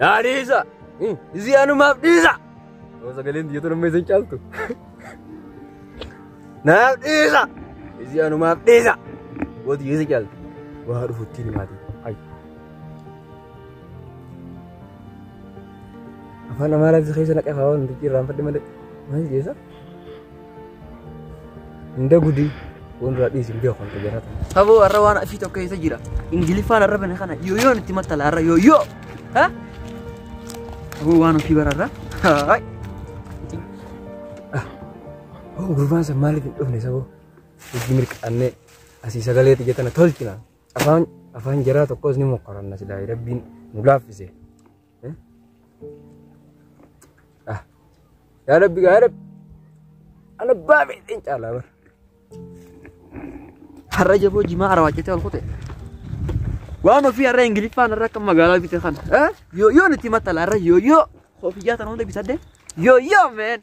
Naa dhiisa. Isii anumaaf dhiisa. Yoo sagaleen biyyoota nama isin caaltu. Naaf dhiisa. Isii anumaaf dhiisa. Gooti yoo isin caaltu. Waa dhufutti ni maatii. Ayi. Afaan Amaaraa keessa naqaa waan nuti irraanfadhe malee. Maal jeesa? Inda gudi won ra dhis biya kon kajara. Abo arra wan afi tokko isa jira. Ingilifaan arra bane kana yo yo nitti mattala arra yo yo. Ha? Abo wan afi bararra. Hai. Oh gurbaan san maaliif hin dhufne saboo? Itti mirqaannee asii sagalee xiyya tana tolchina. Afaan afaan jaraa tokkos ni mokkoranna silaa rabbiin nu laaffise. Ah. Yaa Rabbi yaa Rabbi. Ana baabee hin caalaa bara. Har'a jaboo jimaa arawaachatee ol kute. Waan ofii har'a Ingiliffaan har'a akka magaalaa bite kana. Eh? Yoo yoo nuti matala har'a yoo yoo. Ofiyyaa tan hunda bitadde. Yoo yoo meen.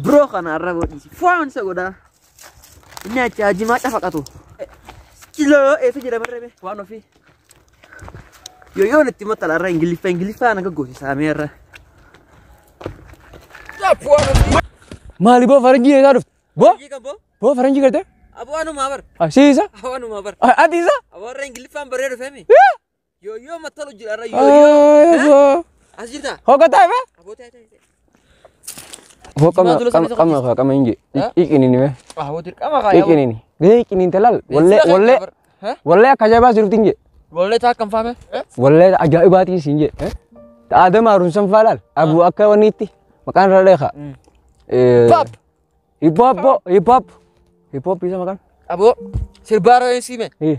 Bro kana irra godhiisi. Foon isa godhaa. Inni achi hajimaa cafaqatu. Kiloo eessa jira barreebe waan ofii. Yoo yoo itti maxxala irra ingiliffa ingiliffa naga gosi saamee irra. Maali boo faranjii eessaa dhufte? Boo? Boo faranjii gartee? Aboo anumaa bar. Asiisa? Aboo anumaa bar. Atiisa? Aboo irra ingiliffaan baree dhufeemi. Yooyyoo mattolo jira irra yooyyoo. As jirta. Hogataa ifa. Abootaa ta'e. Hoo qama Jimaa dula qama sabisa qama kaa qama inji. Eh? Iqinini me. Aboo dirqama kaa. Iqinini. Gahee iqinin talal. Wallee wallee wallee akka jabaa sirti inji. Wallee taa kan faame. Wallee ajaa'ibaatiin siin jee. Aadam haarunsan faalaal. Abuu akka waniitti maqaan irra dheekaa. Pap. Hip hop hip hop. Hip hop isa maqaan. Aboo sirbaa rooyee siime. Eh.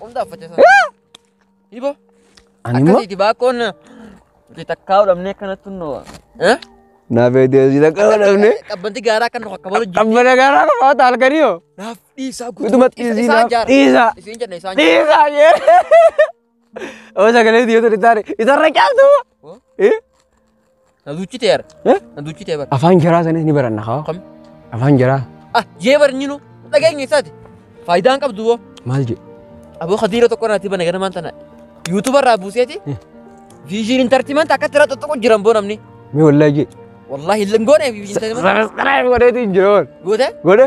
Qomdaa uffachuu isaa. Hibo. Ani immoo Akkasiiti baakkoon nuti takkaa dhabnee akkanatti noo. naaf eedeessi takka godhamne Qabbanti gaaraa kan nu akka balu jiru. qabbana gaaraa qabaata halkanii hoo Naaf dhiisaa guutuu. utuma xiisii Isaan naaf jaara. dhiisaa Isiin jenna isaan jaara. dhiisaa jee oo sagalee dhiyoota dhisaare isarra caaltu Oh. Na duuchite yar. Eh? Na duuchite bar. Afaan jaraa sanis ni baranna haa. Kam? Afaan jaraa Ah, jee bar nyinu. Dhageenya isaati. Faayidaan qabdu boo. maal jedhu? Aboo kadiira tokko irraa tiba nagana maanta na. Yuutuba irraa buuseeti. Eh. Viizhiin intartimanti akkatti irraa xoxxoqu jiran boo namni. Mee wallahi jedhu. Wallaahi hin goone viizhiin intartimanti. Sanas godheetu hin jiru. Goote? Godhe?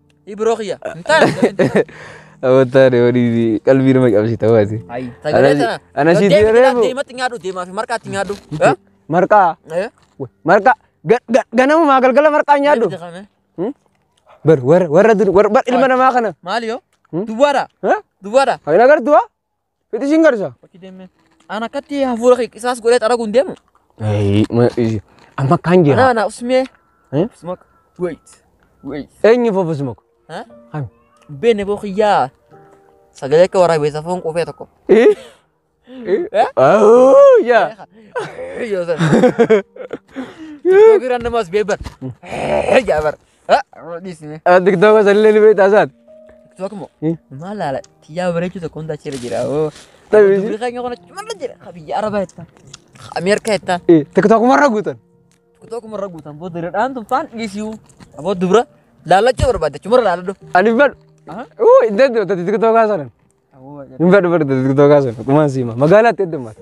Ibro kiyya. Hin taane. Amantaa deemanii qalbii nama cabsita waati. Ayi. Sagalee Ana- sana. ana sitti Deemi, yeroo eegu. Deematti nyaadhu deemaa fi marqaatti nyaadhu. Eh? Marqaa Eh? marqaa ga- ga- ganamumaa galgala marqaa nyaadhu. Deematti kana. Hmm? Bar warra warra dur warra bar ilma namaa kana. Maali yoo? Hmm? Duwwaadha. Ha? Duwwaadha. Hin agartu waa? Fixi siin garisa. Ana akkatti hafuura kee qisaas godhee xaragu hin deemu. Amma akkaan Ana jira. ana usmee. Eh? Usmak. Wait. Wait. Eenyu fofus mako. Ha? Kan. Beene boo kiyyaa. Sagalee akka waraabeessa foon qufee tokko. Eh? Eh? Oh, yaa. Yoo sana. Yoo biraan namaas beeban. Jaabar. Dhiisne. Tiktoka sallee ni beektaa saat. Tiktok moo? Hmm. Maal laala? Tiyyaa bareechuu tokko hunda achirra jira. oo. Tabii. Dubri keenya kun achumarra jira. Ka biyya Arabaa jetta. Ka Ameerikaa jetta. Tiktokumarra guutan. Tiktok marra guutan boo diradhaan tun faan dhiisiu. Aboo dubra laallachuu barbaadde achumarra laalladhu. Ani hin fedhu. Aha. Uu hin danda'u tati tiktokaa sanan. Aboo jedha. Hin fedhu fedhu tati tiktokaa sanan. Kumaan siima. Magaalaatti heddummaata.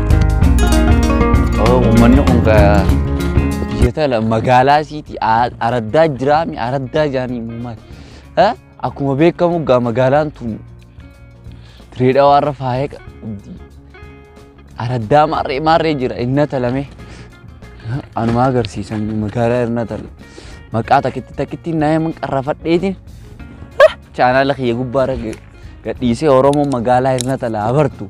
Uummanni kun biyyoota magaalaa isiiti araddaa jiraami araddaa jaanii uummata. Akkuma beekamu egaa magaalaan tun Dirree Dhawaa irra faaya qabdi. Araddaa maarree maarree jira inna talamee. Anuma agarsiisan magaalaa irra tala. Maqaa takkitti takkitti nama qarrafadheetiin chaanaala kiyya gubbaarra gadhiisee Oromoo magaalaa irra tala abartu.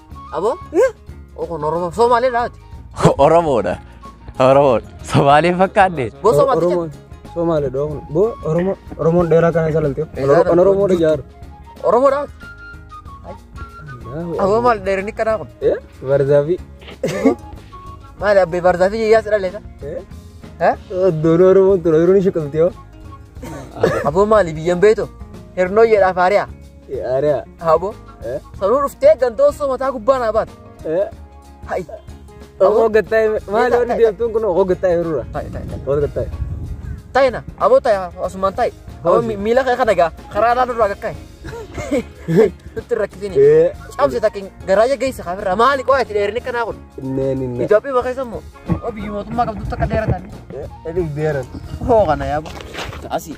Aboo? Oo kun Oromoo Somaalee laati. Oromoodha. Oromoodha. Somaalee fakkaanne. Boo Somaalicha. Oromoon Somaale dhoo kun. Boo Oromoo Oromoon dheeraa kana salaltee. Dheeraa Kan Oromoo dha jaaru. Oromoo laati. Aboo maal dheerinni kanaa kun? Eh Barzaafi. Maali abbee barzaa fi jiyyaa si dhaleessa? Eh? Oddoon Oromoon tura yeroo ni shiqamtee hoo. Aboo maali biyyan beeto? Hirnoo jedhaa faariyaa. Ariyaa. Habo. Eh? Sanuu dhuftee ganda osoo mataa gubbaa naa baate. Eh? Hayi. Hoo gattaa'e maali warri deemtuun kun hoo gattaa'e yeroo Ta'i ta'i ta'i. hoo gattaa'e. Ta'i na. Aboo ta'i asumaan ta'i. Aboo Hoosi. mi- miila kee kana gaa karaa laa nurraa gakkaa'e. Nutti hin rakkisini. Eh? Cabse takkin garaaja geessa kaafirra maali qo'aa itti dheerinni kanaa kun. Neen hin Itoophiyaa bakka isa immoo. Biyyi mootummaa qabdu takka dheeratan. Eh? Edis deeran. Hoo kana yaaba. Asii.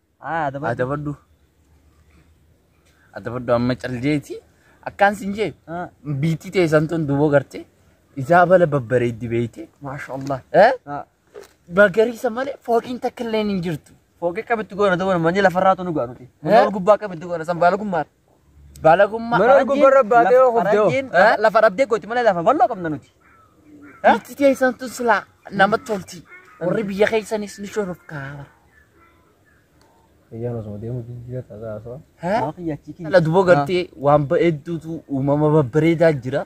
Haa adabadhu. Adabadhu. Adabadhu amma caljeeti. Akkaan sin jee. Haa. Biitti teessan tun duboo gartee. Isaa bala babbareeddi beeyte. Maasha Allah. Eh? Haa. Magariisa malee fooqiin takka illee hin jirtu. Fooqee qabitti goona ta'uu manni lafarraa tunu goona nuti. Manni Eh? ol gubbaa qabitti goona san baala gummaadha. Balagummaa Mana faranjiin gubbarra laf- baatee yoo kufte hoo? faranjiin Eh? la- lafa dhabdee gooti malee lafa bal'oo qabna nuti. Eh? Itti teessan tun silaa nama tolti. Warri biyya keessanis ni shorofkaara. Eeyyaan osoo deemu jijjiirra tasaa osoo. Nama kiyyaachii kiyya. Dhala duboo gartee waan bareedduutu uumama babbareedaa jira.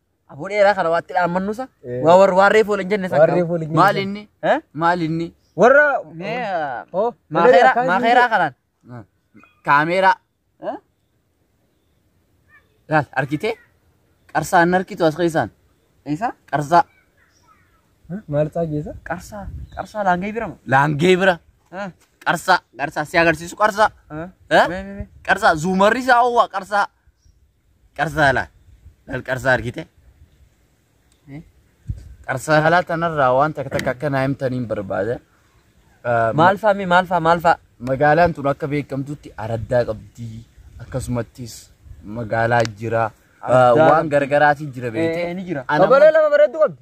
Aboo dheeraa kana waatti dhaammannusa. Eh. Waa warri waarree foole hin jenne san Waarree qabu. foole hin jenne Maal san. inni? Eh? Maal inni? Warra Mee ah, Oh, maakeeraa akkaan maakeeraa jiru. kanaan. Ah, Kaameeraa. Eh? Laal argitee? Qarsaa hin argitu as keessaan. Isa qarsaa. maal isaa geessa? qarsaa qarsaa laangee birama. Laangee bira. Ah, Qarsaa. Qarsaa si agarsiisu qarsaa. ah. Eh? Mee mee mee. Qarsaa zuumarri isaa oowwaa qarsaa. Qarsaa laa. Lal qarsaa argite. Qarsaa halaa tanarraa waan takka takka akka naa himtaniin barbaada. Ah, Maal faa mee maal faa maal faa? Magaalaan tun akka beekamtutti araddaa qabdi. Akkasumattis magaalaa jira. Ah, Araddaa Waan qabdi. gargaraatiin jira beekte. Eh, ni jira. Ana Qabalee lama bareedduu qabdi.